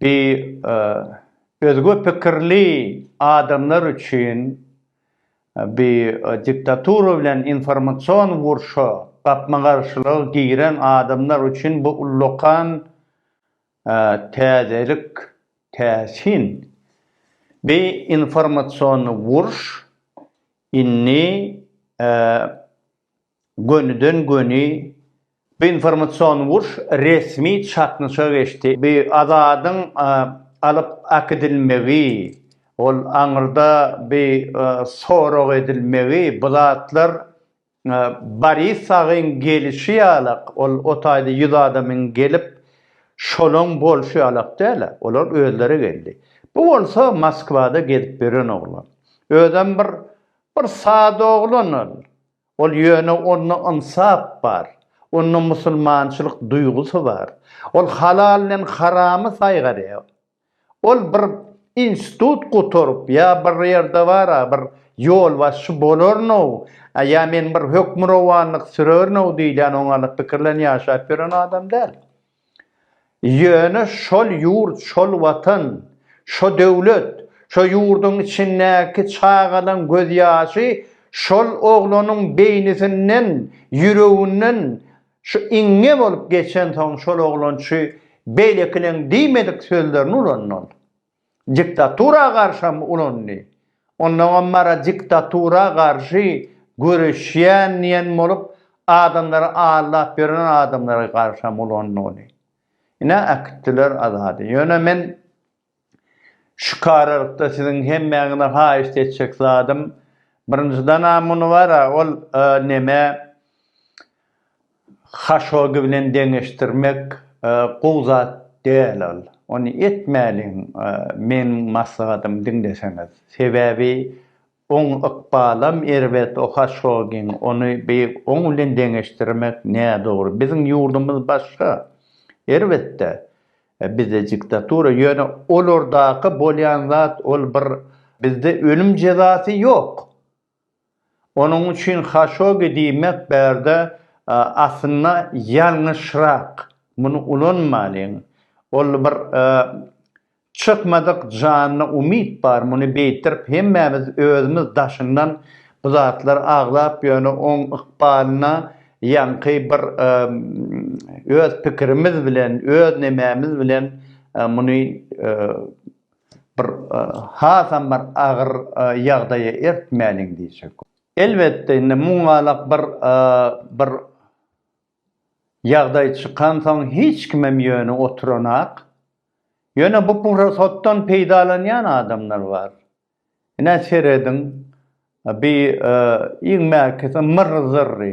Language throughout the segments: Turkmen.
Bi özge pikirli adamlar üçin bi diktatura bilen informasion wurşa gapma-garşylyga giren adamlar üçin bu ullakan täzelik täsin. Bi informasion wurş indi Gönüden-göni bu informasion uruş resmi çaknyşa geçdi. Bu Azadyň alyp akidilmegi, ol aňyrda bu sorag edilmegi, bu zatlar Boris agyň gelişi ýalak, ol o taýda ýüz adamyň gelip, şolaň bolşy ýalak däl-ä. Olar özleri geldi. Bu bolsa Moskwada gezip ýören oglan. Özem bir, bir sada oglan ol. Ol ýöne onda ynsap bar. Onda musulmançylyk duýgusy bar. Ol halal bilen haramy saýgarýar. Ol bir institut gutaryp ýa bir ýerde bar-a bir ýolbaşçy bolaryn-ow, ýa men bir hökmürowanlyk sürerin-ow diýilýän oňaly pikir bilen ýaşap ýören adam däl. Ýöne şol ýurt, şol Watan, şo döwlet, şo ýurduň içindäki çagalaň gözýaşy şol oglanyň beýnisinden, ýüreginden şu iňňe bolup geçensoň şol oglançy beýlekileň diýmedik sözlerini ulandy ol. Diktatura garşam ulandy. Ondanam mara diktatura garşy göreşýän diýen bolup adamlary aldap ýören adamlara garşam ulandy ony. Ine äkitdiler Azady. Ýöne men şükaralykda siziň hemmäňize haýyşt etjek zadym, birinjiden-ä munybara ol neme, Haşogy bilen deňeşdirmek gowy zat däl ol. Ony etmäliň meniň maslahatymy diňleseňiz. Sebäbi oň ykbalam erbet o haşogiň ony beýik oň bilen deňeşdirmek nädogry. Biziň ýurdumyz başga. Erbetde bizde diktatura ýöne olardaky bolýan zat ol bir bizde ölüm jezasy ýok. Onuň üçin Haşogi diýmek bärde aslynda ýalňyşrak. Muny ulanmalyň. Ol bir çykmadyk janyna umyt bar. Muny beýtdirip hemmämiz özümiz daşyndan bu zatlar aglap ýöne oň ykbalyna ýaňky bir öz pikirimiz bilen öz nemämiz bilen muny bir hasam bir agyr ýagdaýa eltmäliň diýjek. Elbetde indi mungalak bir bir ýagdaý çykansoň hiç kimem ýöne oturanok. Ýöne bu pursatdan peýdalanýan adamlar bar. Ine serediň bi iň mäkisi myr-zyrry.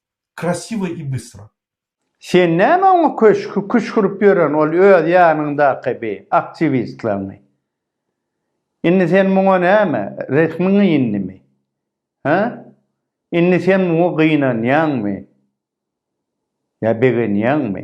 Krasiwo i bystra. Sen näme oňa köşki küşgürip ýören ol öz ýanyňdaky bi aktiwistlaňňy. Indi sen muňa näme, rehmiň indimi? Hä? Indi sen muňa gynanýaňmy? Ýa begenýäňmi?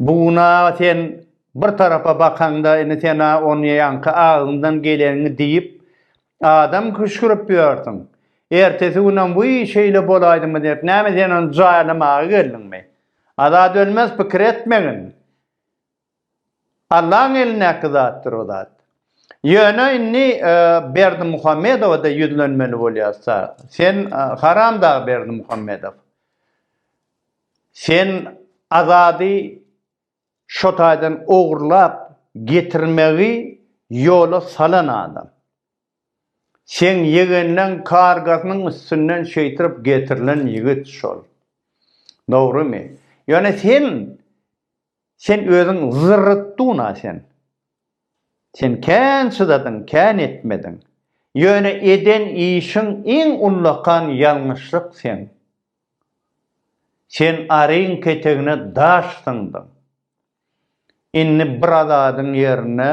Buna sen bir tarapa bakaňda indi sen-ä onýaňky agzyňdan geleniňi diýip adam küşgürip ýörsüň. Ertesi günem wiý şeýle bolaýdymy diýip näme sen ony jaýlamaga geldiňmi? Azat ölmez pikir etmegin. Allaň elindäki zatdyr o zat. Ýöne indi Berdimuhamedowa-da ýüzlenmeli bolýarys-a. Sen haramdag Berdimuhamedow. Sen Azady şo taýdan ogurlap getirmegi ýola salan adam. Seň ýegenleň kargasynyň üstünden şeýtirip getirilen ýigit şol. Dogrymy? Ýöne sen, sen özüň zyrryt duna sen. Sen kän çydadyň, kän etmediň. Ýöne eden işiň iň ullakan ýalňyşlyk seň. Sen aryň petegine daş syňdyň. Indi bir azadyň ýerine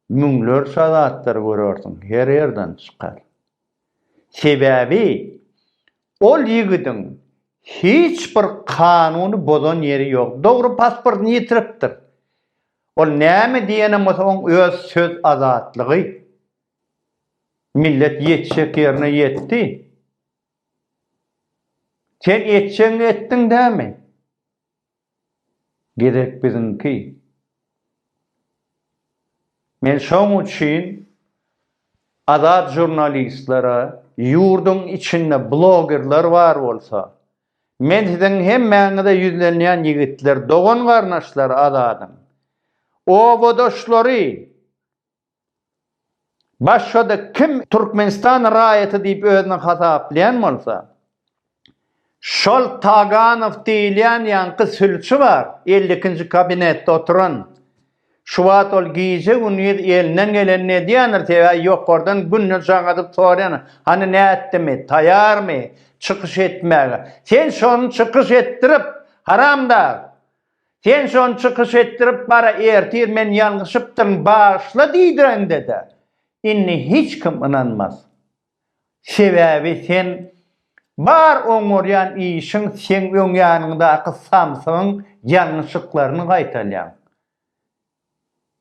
müňlerçe azatlary görersiň, her ýerden çykar. Sebäbi ol ýigidiň hiç bir kanuny bozan ýeri ýok. Dogry pasportyny ýitiripdir. Ol näme diýenem bolsa oň öz söz azatlygy. Millet ýetjek ýerine ýetdi. Sen etjegiňi etdiň dämi? Gezek biziňki. Men şoň üçin azat žurnalistlere, ýurduň içinde blogerler bar bolsa, men siziň hemmäňize ýüzlenýän ýigitler, dogan-garnaşlar Azadyň obadaşlary Başga-da kim Türkmenistan raýaty diýip özüni hasaplaýan bolsa, şol Taganow diýilýän ýaňky sülçi bar, elli ikinji kabinetde oturan. Şu wagt ol gije-gündiz elinden gelenini edýändir, sebäbi ýokardan günde jaň atyp soraýarlar, Hany nätdimi, taýarmy çykyş etmäge? Sen şony çykyş etdirip, haramdag! Sen şony çykyş etdirip bara ertir men ýalňyşypdyryn bagyşla diýdirende-de indi hiç kim ynanmaz. Sebäbi sen bar oňarýan işiň seň öň ýanyňdaky samsygyň ýalňyşyklaryny gaýtalýaň.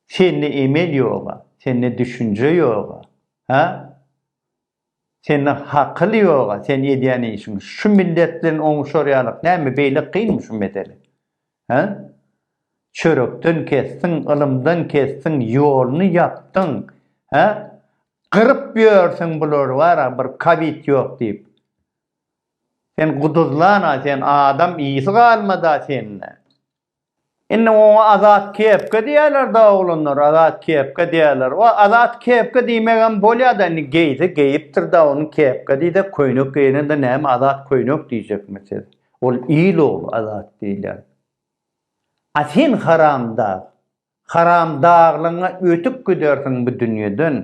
Sende emel ýog-a, sende düşünje ýog-a. Hä? Sende hakyl ýoga sen edýän işiň şu millet bilen oňuşar ýalyk näme beýle kynmy şu mesele hä çörekden kesdiň ylymdan kesdiň ýoluny ýapdyň hä gyryp ýörsiň bulary bara bir kowid ýok diýip sen guduzlana sen adam ysy galmada sende. Indi oňa Azat kepka diýerler-da oglanlar, Azat kepka diýerler. O Azat kepka diýmegem bolýar-da, indi geýse geýipdir-de ony, kepka diýse köýnek geýenede näme Azat köýnek diýjekmi siz? Ol il ogly Azat diýilýär. A sen haramdag, Haram daglygyňa ötüp gidersiň bu dünýeden.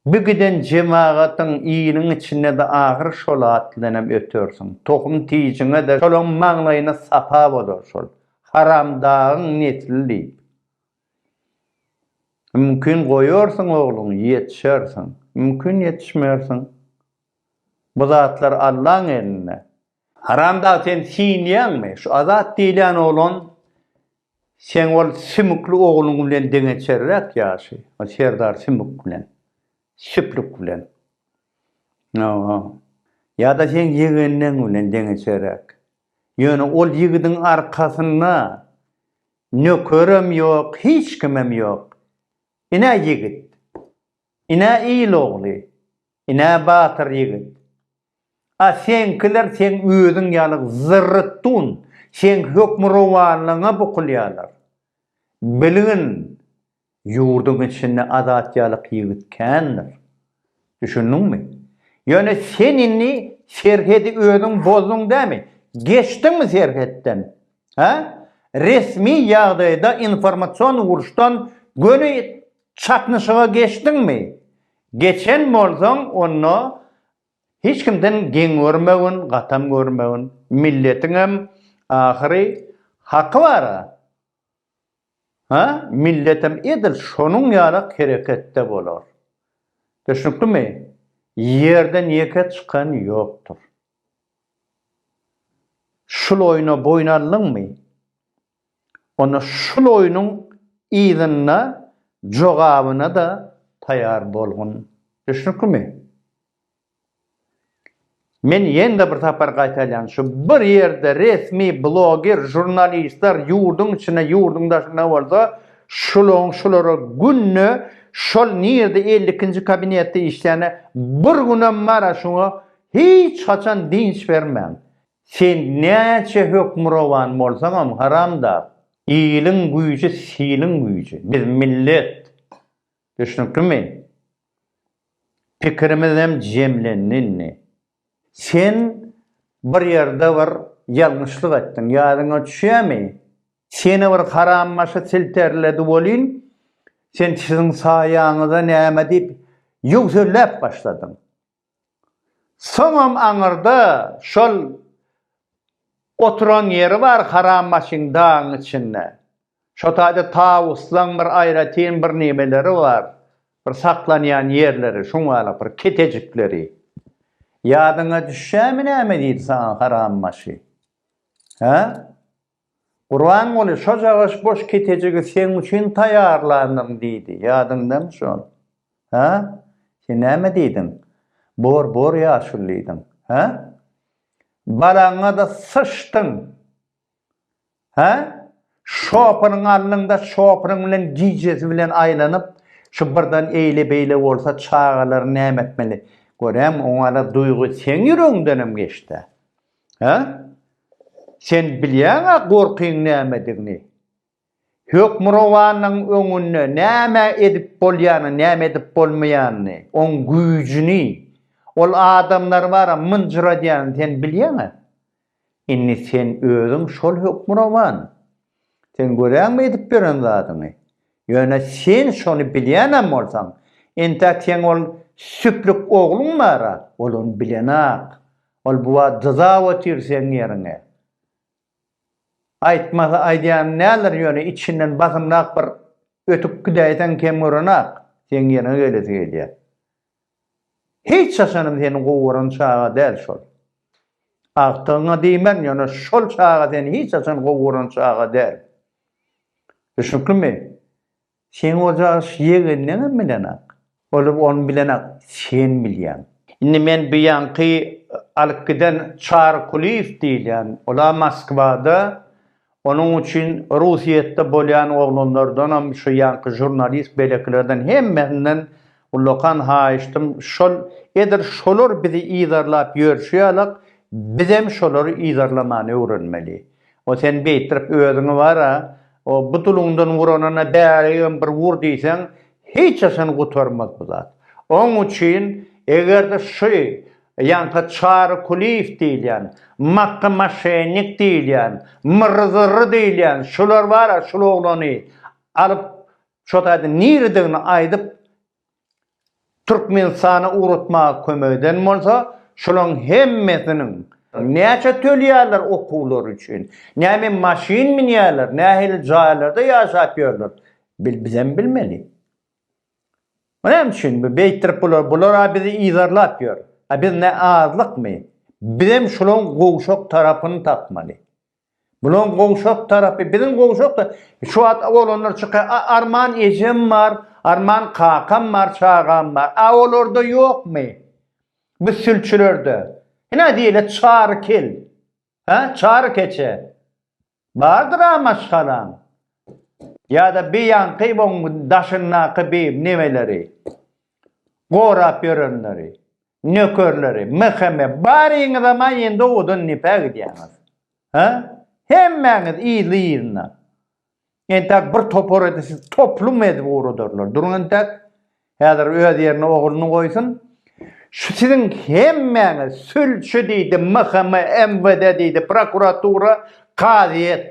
Bu giden jemagatyň, iliň içinde-de ahyry şol at bilenem ötersiň. Tohum-tijiňe-de şolaň maňlaýyna sapa bolar şol. Haram dagyň nesli diýip. Mümkin goýarsyň ogluňy, ýetişersiň. Mümkin ýetişmersiň. Bu zatlar Allaň elinde. Haramdag sen synýaňmy şu Azat diýilýän oglan seň ol sümükli ogluň bilen deňeçerräk ýaşy ol Serdar sümük bilen süplük bilen hawa ýada seň ýegenleň bilen deňeçerräk ýöne ol ýigidiň arkasynda nökerem ýok hiç kimem ýok inä ýigit inä il ogly inä batyr ýigit A seňkiler seň özüň ýaly zyrrytdun, seňki hökmürowanlygyňa bukulýarlar. Bilgin, ýurduň içinde Azat ýalyk ýigit kändir. Düşündiňmi? Ýöne sen indi serhedi özüň bozduň dämi? Geçdiňmi serhetden? Hä? Resmi ýagdaýda informasion uruşdan göni Çaknyşyga geçdiňmi? Geçen bolsaň, onda hiç kimden geň görmegin, gatam görmegin. Milletiňem, ahyry, haky bar-a. Ha, milletem edil şonuň ýalak hereketde bolar. Düşnüklimi? Ýerden ýeke çykan ýokdur. Şul oýna boýun aldyňmy? Onda şul oýnuň yzynda jogabyna-da taýar bolgun. Düşnükmi? Men ýene-de bir sapar gaýtalýan, şu bir ýerde resmi bloger, žurnalistler ýurduň içinde, ýurduň daşynda bolsa, şulaň şulara günde şol nirde elli ikinji kabinetde işleýäne bir günem mara şuňa hiç haçan dynç bermäň. Sen näçe hökmürowan bolsaňam haramdag, iliň güýji siliň güýji, biz millet. Düşnüklimi? Pikirimizem jemlendi indi. Sen bir ýerde bir ýalňyşlyk etdiň, ýadyňa düşýämi? Seni bir harambaşy silterledi welin, sen siziň saýaňyza näme diýip ýöwselläp başladyň. Soňam aňyrda şol oturan ýeri bar haram maşyn dagyň içinde. Şo taýda tawuslaň bir aýratyn bir nimeleri bar, bir saklanýan ýerleri, şuňalak bir ketejikleri. Ýadyňa düşýämi näme diýdi saňa haram maşy? Hä? Gurbanguly, şojagaz boş ketejigi seň üçin taýýarlandym diýdi, ýadyňdamy şol? Hä? Sen näme diýdiň? Bor, bor ýaşuly diýdiň. Hä? Balaňa-da syçdyň! Hä? Şopyryň alnyňda şopyryň bilen gijesi bilen aýlanyp, şu birden eýle-beýle bolsa çagalary näme etmeli? Görem, oňa-da duýgy seň ýüregiňdenem geçdi-ä. Hä? Sen bilýäň-ä gorkyň nämedigini? Hökmürowanyň öňünde näme edip bolýanyny, näme edip bolmaýanyny, oň güýjüni, ol adamlary bara mynjyradýanyny sen bilýäň-ä? Indi sen özüň şol hökmürowan. Sen göräňmi edip beren zadyňy? Ýöne sen şony bilýänem bolsaň, entäk seň ol süplük ogluň bar-a, ol ony bilenok. Ol bu wagt dyzap otyr seň ýeriňe. Aýtmasa aýdýany näler, ýöne içinden basymrak bir ötük gidäýseň kem görenok. Seň ýeriňe gelesi gelýär. Hiç haçanam seni gowuran çaga däl şol. Agtygyňa diýmän, ýöne şol çaga seni hiç haçan gowuran çaga däl. Düşnüklimi? Seň o jaş ýegenleňem bilenok. Olar ony bilenok, sen bilýäň. Indi men bu ýaňky alyp giden Çary Kulyýew diýilýän, ol-a Moskwada Onuň üçin Russiýetde bolýan oglanlardanam şu ýanky žurnalist beýlekilerden hemmesinden ullakan haýyştym şol edil şolar bizi yzarlap ýörşýalak bizem şolary yzarlamany öwrenmeli o sen beýtirip özüňi bara o bu duluňdan wuranyna bäregem bir wur diýseň hiç haçan gutarmaz bu zat oň üçin egerde şu Ýaňky Çary Kulyýew diýilýän, Makga Maşennik diýilýän, Myrry-zyrry diýilýän şular bar-a, şul oglany alyp, şo taýda niredigini aýdyp, Türkmenistana ugratmaga kömek eden bolsa, şolaryň hemmesiniň näçe tölýärler okuwlary üçin, näme maşyn münýärler, nähili jaýlarda ýaşap ýörler, bizem bilmeli. Bu näme üçin bu beýtdirip bular bulara bizi yzarlap ýör a biz ne azlykmy bizem şulaň gowşak tarapyny tapmaly bulaň gowşak tarapy biziň gowşak da şu wagt oglanlar çyka a arman ejem bar arman kakam bar çagam bar a olarda ýokmy bu sülçülerde hine diýeli çary kel he çary keçe Bardyr-a maşgalaň. Ýa-da bi ýaňky oň daşyndaky bi nemeleri, gorap ýörenleri, nökerleri, mhme, baryňyzam-a indi owadan nepä gidýäňiz. Hä? Hemmäňiz yzly-yzyna. Entäk bir topar edip, toplum edip ugradarlar. Duruň entäk. Häzir öz ýerine ogluny goýsun. Şu siziň hemmäňiz sülçi diýdi, MHM, MWD diýdi, prokuratura, kazyýet.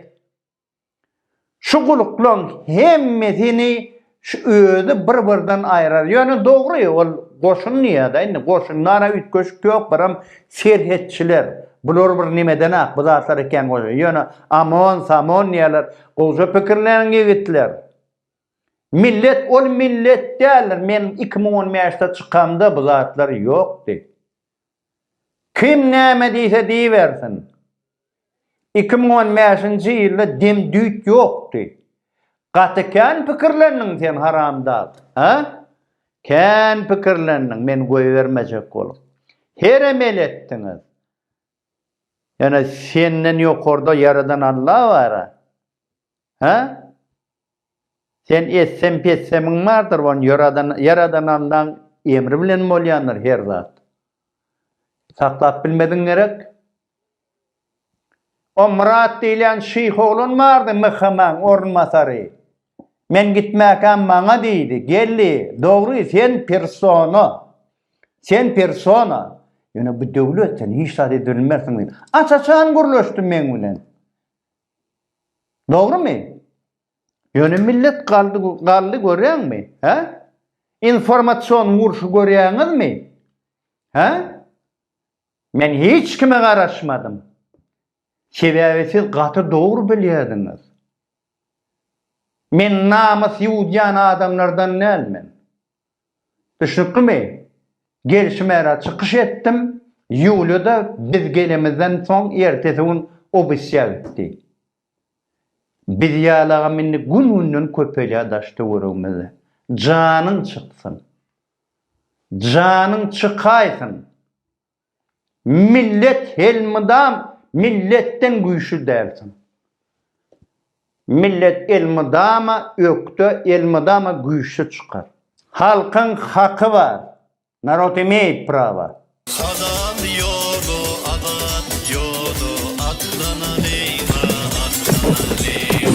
Şu guluklaň hemmesini şu özi bir-birden aýrar. Ýöne dogry, ol goşun diýýär-de, indi goşundara üýtgeşik ýok, biram serhetçiler. Bular bir nimedenak bu zatlar ekeni goýa. Ýöne amon, samon diýýärler. Gowja pikirleniň ýigitler. Millet ol millet däldir men iki müň on bäşde çykamda bu zatlar ýokdy. Kim näme diýse diýibersin. Iki müň on bäşinji ýylda dem düýt ýokdy. Gaty kän pikirlendiň sen haramdag. Hä? Kän pikirlendiň men goýbermejek bolup. Herem el etdiňiz. Ýöne senden ýokarda ýaradan Alla bara. Hä? Sen etsem-petsemiň bardyr, ony Ýaradanallah emri bilen bolýandyr her zat. Saklap bilmediň gerek? O Myrat diýilýän şyh oglan bardy MHM-iň orunbasary. Men gitmäkäm maňa diýdi, Geldi, dogry, sen persona. Sen persona. Ýöne bu döwlet, sen hiç zat edip bilmersiň diýdi. Aç-açan gürleşdi meň bilen. Dogrymy? Ýöne millet galdy galdy görýäňmi? Hä? Informasion urşy görýäňizmi? Hä? Men hiç kime garaşmadym. Sebäbi siz gaty dogry bilýärdiňiz. Men namys ýuwdýan adamlardan dälmen. Düşnüklimi? Gelşime gara çykyş etdim, Ýuliýa-da biz gelemizden soň ertesi gün obisýa gitdi. Biz ýalagam indi gün-günden köpelýär daş-töweregimizde. Janyň çyksyn! Janyň çykaýsyn! Millet elmydam milletden güýçli dälsin. Millet elmydama ökde elmydama güýçli çykar. Halkyň haky bar. Narod imeýt prawa. Halal ýoly azat ýoly atlanalýyňa atlanalýyň.